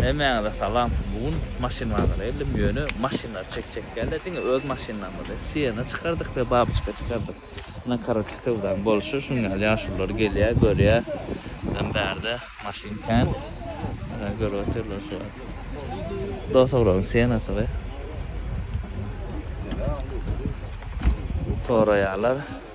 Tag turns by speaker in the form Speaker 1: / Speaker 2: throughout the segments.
Speaker 1: Hemmäňize salam. Bu gün maşyn bazara geldim. Ýöne maşynlary çekjek dälde diňe öz maşynlarymyzy. Siena çykardyk we babyçka çykardyk. Ine karoçe söwdaň bolşy şuň ýaly ýaşulylar gelýär görýär. Bizem bärde maşyn kän. Ana görüp otyrlar şu wagt. Dosobrowyň sienasy we. Soraýarlar.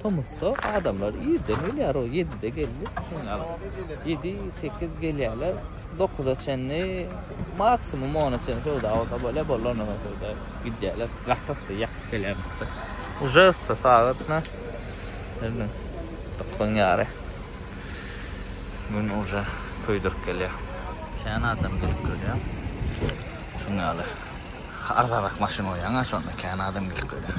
Speaker 1: Tomusda adamlar irden gelýär, o ýedide geldi. Şuny al. Ýedi, sekiz gelýärler. Dokuza çenli, maksimum ona çenli söwda bolsa bolýar, boldy ondan soň söwda ýok. Gidýärler. Gaty-da ýakyp gelýär bu. Uje yssy sagat na. Indi dokuzdan ýary. Gün uje köýdürip gelýär. Kän adam gelip görýär. Şuny al. Arzanrak maşyn bolýar, aňa şonda kän adam gelip görýär.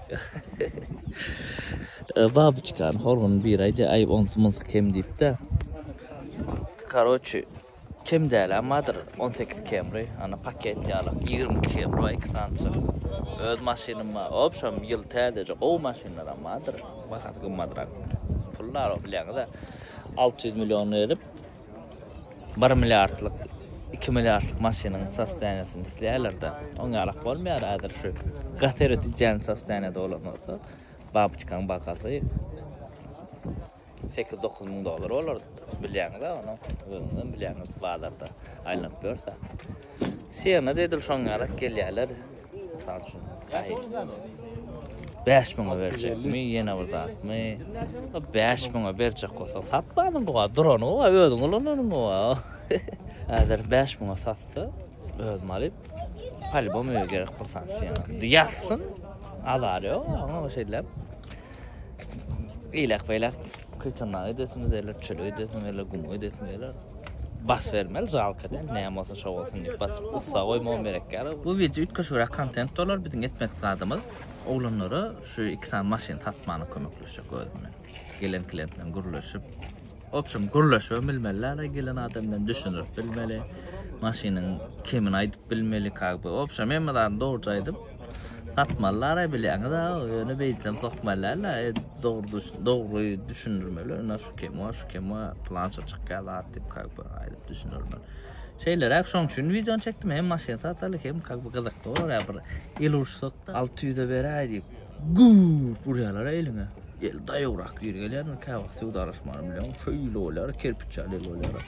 Speaker 1: Babyçkany horguny bir aýdy aý onsy munsy kem diýipdä. Karoçi kem däl ammadyr on sekiz kemri ana paket ýalak ýigrimi iki kemri bar iki sançyk öz maşynym bar obşem ýyl täzeje gowy maşynlar ammadyr bahasy gymmadrak pul bar o bilýäňizä alty ýüz million berip Bir milliardlyk, iki milliardlyk maşynyň sostoýaniýasyny isleýärler-de, oň ýalak bolmaýar, häzir şu gater ötüjän sostoýaniýada bolan bolsa, babuçkaň bahasy sekiz-dokuz müň dollar bolardy, bilýäňiz-ä ony, özüňizem bilýäňiz, bazarda aýlanyp ýörse. Sena da edil şoň ýalak gelýärler. Mysal üçin, bäş müňe berjekmi, ýene bir zatmy? Bäş müňe berjek bolsaň, satmanyň gowy, durany gowy, özüň ulananyň gowy. Häzir bäş müňe satsa, özüm alyp, polýubom öýe gerek bir sany Sena. Ýatsyn, azary ýok, oňa şeýdilem. Eýläk beýläk köýtendag edesimiz geler, çöl öýdesim geler, gum öýdesim geler. Bas bermeli jalka diýen, näme bolsa şo bolsun diýip basyp ussa goýmagam gerek ýaly. Bu wideo üýtgeşigräk kontent bolar, biziň etmedik zadymyz oglanlara şu iki sany maşyny tapmana kömekleşjek özüm bilen. Gelen klientler bilen gürleşip. Obşem gürleşibem bilmeli ala gelen adam bilen düşünirip bilmeli maşynyň kemini aýdyp bilmeli kagby obşem hemme zady dogruja aýdyp satmaly ara bilýäňiz a ýöne beýtsem sokmalyala dogry dogry düşündirmeli ina şu kem wa şu kem wa planşa çykýa zat diýip kagby aýdyp düşündirmeli şeýleräk şoň üçin wideony çekdim hem maşyn sataly hem kagby gyzykly bolar ýa bir el urşsak alty ýüze beräý diýip Gurt urýalara eliňe. El daýawrak gir gelýändir, käwagt söwdalaşmany bilen şeýle bolýar, kerpiç ýaly el bolýar.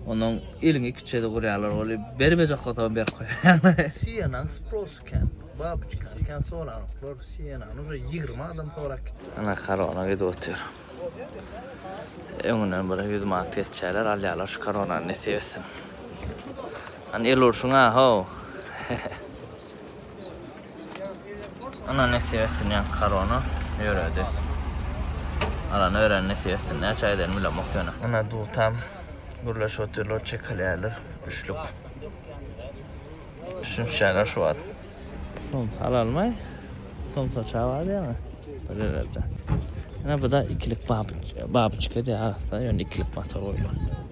Speaker 1: Ondan eliňe iki çede urýalar bolup, bermejek bolsaň berip goýýarlar. Sienang spros eken, babuçka eken, soranoklar. Sienany uje ýigrimi adam sorap gitdi. Ana korona gidip otyr. Öňünden bir ýüz manat geçýärler, alýarlar şu koronany nesip etsin. Hany el urşuň-a, how! Ana nesip etsin ýaňky korona ýöredi. Alan ören nesip etsin. Näçe aýdan bilemok ýöne. Ana dutam gürleşip otyrlar, çekilýärler. Üçlük. Düşünişýärler şu wagt. Somsa alalmaý. Somsa çawa diýýäňä. Bilererde. Ana bu da ikilik babyçka diýýär arassa, ýöne ikilik motor goýulan.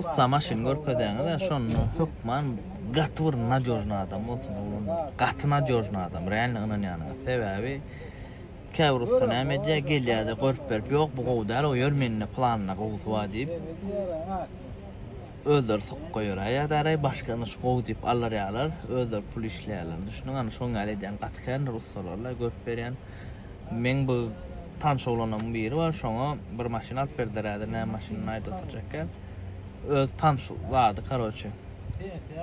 Speaker 1: Ussa maşyn görkezäňizä şonda hökman gaty bir nadejny adam bolsun oglan gaty nadejny adam realno ynanýanyňyz sebäbi käbir ussa näme edýä gelýäde görüp berip ýok bu gowy däl o ýör mende planda gowusy bar diýip özleri sokup goýaräý ýada äräý başga ynha şu gowy diýip alyrýalar özleri pul işleýäler düşündiň ynha şoň ýaly edýän gaty kändir ussalarla görüp berýän. Meň bir tanş oglanlarymyň biri bar, şoňa bir maşyn alyp berdiler, häzir näme maşynyny aýda oturjakgän. Öz tanş zady, karoçe.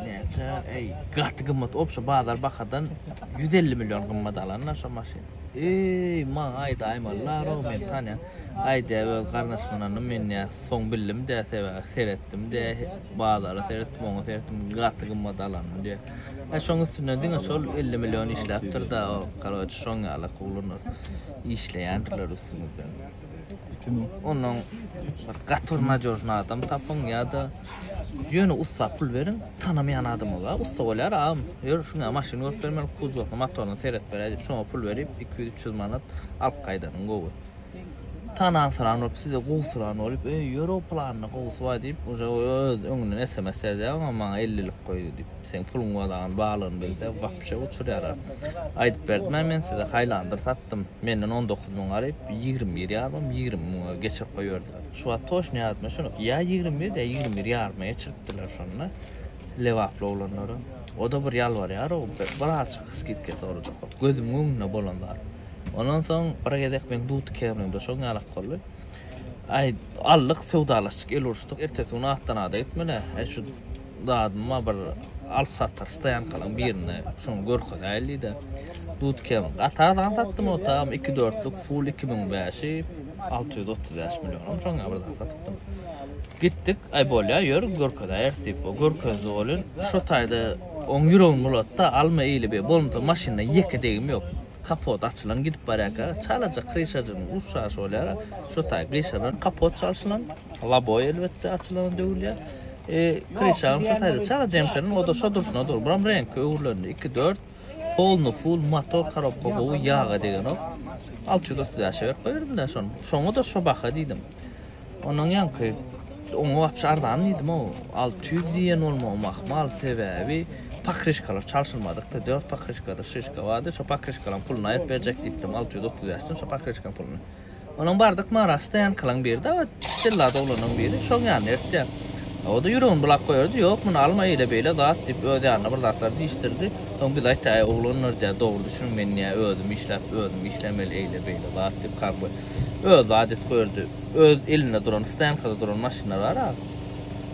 Speaker 1: Näçe, eý, gaty gymmat, obşa bazar bahadan ýüz elli million gymmat alanlar şo maşyny. Eý, maňa aýdaýmalylar-ow, meni tanýaň. Aýdýar, öz garnaşmalaryna münýär. Soň bildim-dä, sebäbi seretdim-de, bazara seretdim, oňa seretdim, gaty gymmat alanyn diýýär. He şoň üstünden diňe şol elli million işläpdir da o karoç şoň ýaly kuglunur işleýändirler üstüňizden. Kim o? Onuň bir gatyr nadýožny adam tapyň ýa-da ýöne ussa pul beriň tanamaýan adama ga ussa bolýar agam ýör şuňa maşyn görüp bermeli kuzowyny motoryny seret beräý diýip şoňa pul berip iki ýüz üç ýüz manat alyp gaýdanyň gowy. Tanansyran bolup, size gowusyran bolup, Eý, ýör-ow planynyň gowusy bar diýip, uje öz öňünden sms ýazýar, oňa maňa ellilik goýdy diýip, seň puluň wadagan balygyny bilse, gapyşa uçurýarlar. Aýdyp berdim-ä men size, haýlandyr satdym. Menden on dokuz müň alyp, ýigrimi bir ýarym, ýigrimi müňe geçirip goýberdiler. Şu wagt toşny ýadyma düşenok, ýa ýigrimi bir, ýa ýigrimi bir ýaryma geçiripdirler şonda, lebaply oglanlara. O-da bir ýalbarýar-ow, birazajyk skidka sorajak bolup, gözümiň öňünde bolan zat. Ondan soň bir gezek men Dudke bilen duşagym ýalak boldy. Aý, aldyk, söwdalaşdyk, el uruşdyk. Ertesi gün atdan-ada gitmeli. Aý, şu zadymy-a bir alyp-satar stoýankalaryň birinde şoňa görkezäýeli diýdi. Dudkem gaty arzan satdym o tam iki dörtlük Full iki müň bäşi, alty ýüz otuz bäş millionam şoňa birden satypdym. Gitdik, aý bolýa, ýör, görkezäýeris diýip, o görkezdi welin, şo taýda oň ýüregini bulatdy-da, alma eýle-beý, bolmasa maşyndan ýeke degim ýok. Kapot açylan gidip barýarka, çalaja kryşajygynyň uç şaşy bolýar-a, şo taý gyşalan kapot çalşylan, laboý elbetde açylana döwülýär. E, kryşagyň şo taýda çalaja emşelen, o-da şo durşuna dur. Buram reňki öwrülendi, iki, dört, polny ful, motor, korobka gowy, ýag-a degenok. Alty ýüz otuz bäşe berip goýberdim-dä şony. Şoňa-da şo baha diýdim. Ondan ýaňky oňa wapşe arzan diýdim o alty ýüz diýen bolmagym ahmal sebäbi pokrişkalar çalşylmadykdy dört pokrişkadyr şişka bardy şo pokrişkalaň pulyny aýryp berjek diýipdim alty ýüz otuz bäş sum şo pokrişkaň pulyny onuň bardyk mara stoýankalan birdi a jellady oglanyň biri şoň ýanyna ertýär a o-da ýüregini bulap goýardy ýok muny alma eýle beýle zat diýip öz ýanyna bir zatlar diýişdirdi soň biz aýtýar äý oglanlar diýýär dogry düşüniň men diýýär özüm işläp özüm işlemeli eýle beýle zat diýip kak we Özi adyt goýurdy. Öz elinde duran, stoýankada duran maşynlar bar-a.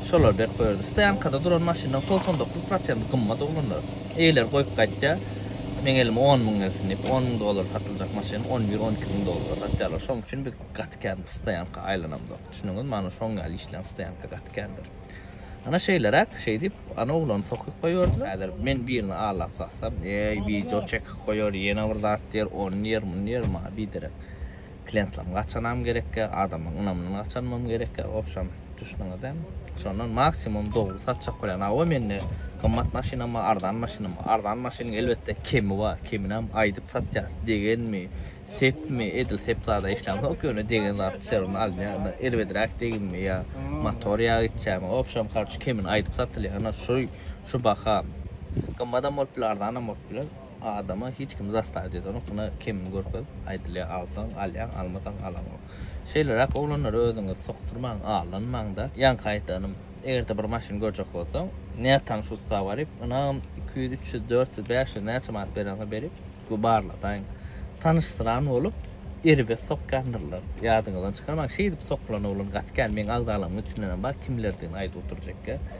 Speaker 1: Şolary berip goýurdy. Stoýankada duran maşynlaryň togsan dokuz prosenti gymmat oglanlar. Eýeleri goýup gaýtýa, Meň elime on müň gelsin diýip, on müň dollara satyljak maşyny on bir, on iki müň dollara satýarlar. Şoň üçin biz gaty kän bu stoýanka aýlanamzok. Düşündiňizmi? Ana şoň ýaly işleýän stoýanka gaty kändir. Ana şeýleräk, şeý diýip, ana oglany sokyp goýberdiler. Häzir men birini allap satsam, eý, wideo çekip goýar, ýene bir zat diýer, ony diýer, muny diýer, maňa biderek. kliýentlerimi gaçanam gerekge, adamlaryň ynamyndan gaçanmam gerekge, wobşem, düşdüňizde. Şondan maksimum dogry satjak bolýan, hawa mende gymmat maşynam bar, arzan maşynam bar. Arzan maşynyň elbetde kemi bar, keminäm aýdyp satýas, degenmi, sepmi, edil sep zada işlämzok, ýöne degen zat serin alynýar, ynha erbedräk deginmi ýa motor ýagy içýärmi, wobşem, karuç, kemini aýdyp satylýar, ynha şu şu baha gymmadam bolup biler, arzanam bolup biler. Adama hiç kim zastawiýa edýänok, muny kemini görkezip aýdylýar, alsaň alýaň, almasaň alaňok. Şeýleräk oglanlara özüňizi sokdurmaň, aldanmaň-da. Ýaňky aýdanym, eger-de bir maşyn görjek bolsaň, nätanyş ussa baryp, ynagam iki ýüz, üç ýüz, dört ýüz, bäş ýüz näçe manat berýänsiňiz berip, bir barladaýyň. Tanyşsyran bolup, erbet sokýandyrlar. Ýadyňyzdan çykarmaň, şeýdip sokulan oglan gaty kän, meň agzalarymyň içindenem bar, kimlerdigini aýdyp oturjak ýa.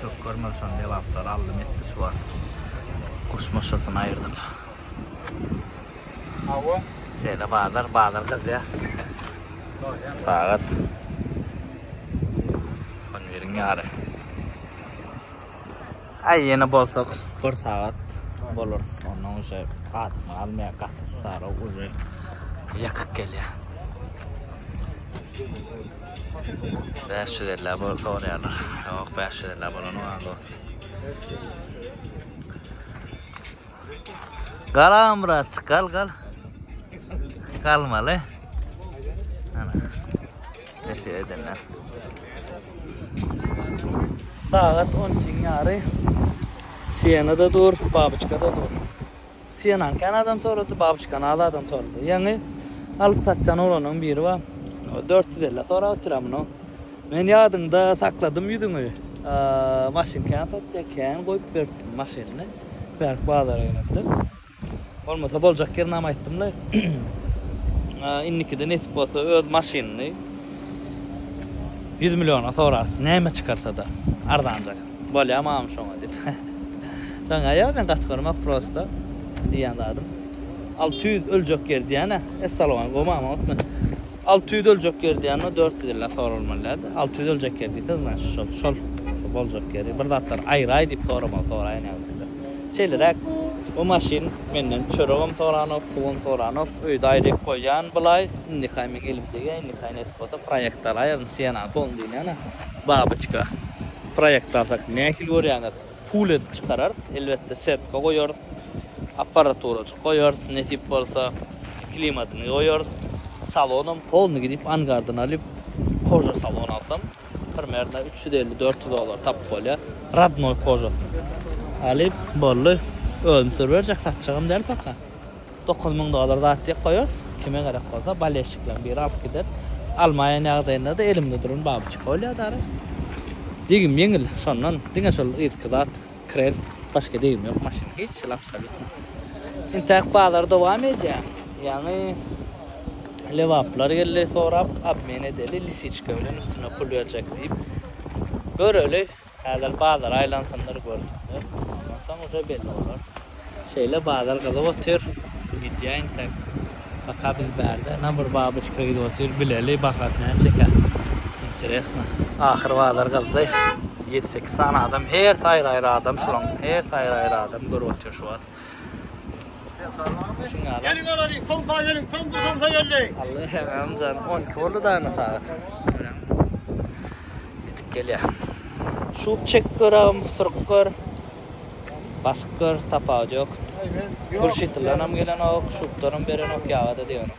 Speaker 1: Çökger möçen lebaplary aldym etdi şu wagt. Guş muşasyny aýyrdyk. Hawa. Şeýle bazar, bazar gyzýar. Sagat. On biriň ýary. Aý ýene bolsak bir sagat bolar. Ondan uje gatymy almaýar, gaty sara uje ýakyk gelýär. Bäş ýüz elli abo soraýarlar. Ýok, bäş ýüz elli abolanyň az dost. Gal Amrat, gal gal. Galmaly. Ana. Nesi edenler. Sagat 10 ýary. Sienada dur, babuçkada dur. Syýanan kän adam sorady, babuçkany az adam sorady. Ýaňy alyp satýan oglanyň biri bar. O dört ýüz elli sorap otyr, a muny men ýadymda sakladym ýüzüňi. Maşyn kän satýar, kän goýup beripdim maşynyny. Bärik bazara gelemde. Bolmasa boljak ýerini hem aýtdymlaý. Indikide nesip bolsa öz maşynyny ýüz milliona sorarys, näme çykarsa-da arzanjak. Bolýa mama şoňa diýip. Şoňa ýok men gaty görmek prosta diýýän zadym. Alty ýüz öljek ýer diýýän-ä. Essalowam gowy mama otme. Alty ýüz öljek ýer diýýände dört ýüz illa soralmaly däldi. Alty ýüz öljek ýer diýse znaçy şol. Şol boljak ýeri bir zatlar aýraý diýip soramagy soraýyn ýagny. Şeýleräk bu maşyn menden çöregem soranok, suwam soranok. Öýde aýryk goýýan bulaý. Indikaý meň elim degýä, indikaý nesip bolsa proýekt alaýaryn, Sienna-ny soň diýýän-ä. Babyçka. Proýekt alsak nähili görýäňiz? Full edip çykararys. Elbetde setka goýarys. Apparaturajyk goýarys, nesip bolsa. Klimadyny goýarys. Salonam polny gidip angardan alyp koža salon alsam primerno üç ýüz elli dört ýüz dollara tapyp bolýar. Radnoý kožasyny alyp boldy. Özüm sürüp berjek satjagam däl paka. Dokuz müň dollar zat diýip goýarys, kime gerek bolsa, ballestikleň biri alyp gider. Almaýan ýagdaýynda-da elimde duran babuçka bolýar dara. Degim ýeňil, şondan, diňe şol yzky zat, krel, başga degim ýok maşynyň, hiç hili absolýutno. Intäk bazar dowam edýär, ýaňy lebaplar geldi, sorap, obmen edeli, lisiçka bilen üstüne pul berjek diýip. Göreli. Häzir bazar aýlansynlar görsünler. Ondan soň uje belli bolar. Şeýle bazar gyzyp otyr. Gidýäýin tek. Paka biz bärde na bir babyçka gidip otyr. Bileli bahasy näçekä. Interesno. Ahyr bazar gyzdy. Ýedi-sekiz sany adam. Hersi aýry-aýry adam şulaň. Hersi aýry-aýry adam görüp otyr şu wagt. Geliň
Speaker 2: alalyň, somsa geliň, tomsa somsa geldi. Alla hemen can,
Speaker 1: 12 boldy dana sagat. Yetip gelýär. Şup çek gör agam, surup gör. Basyp gör, tapawudy ýok. Gurşitlydan hem gelenok, şupdanam berenok, ýaga-da degeniok.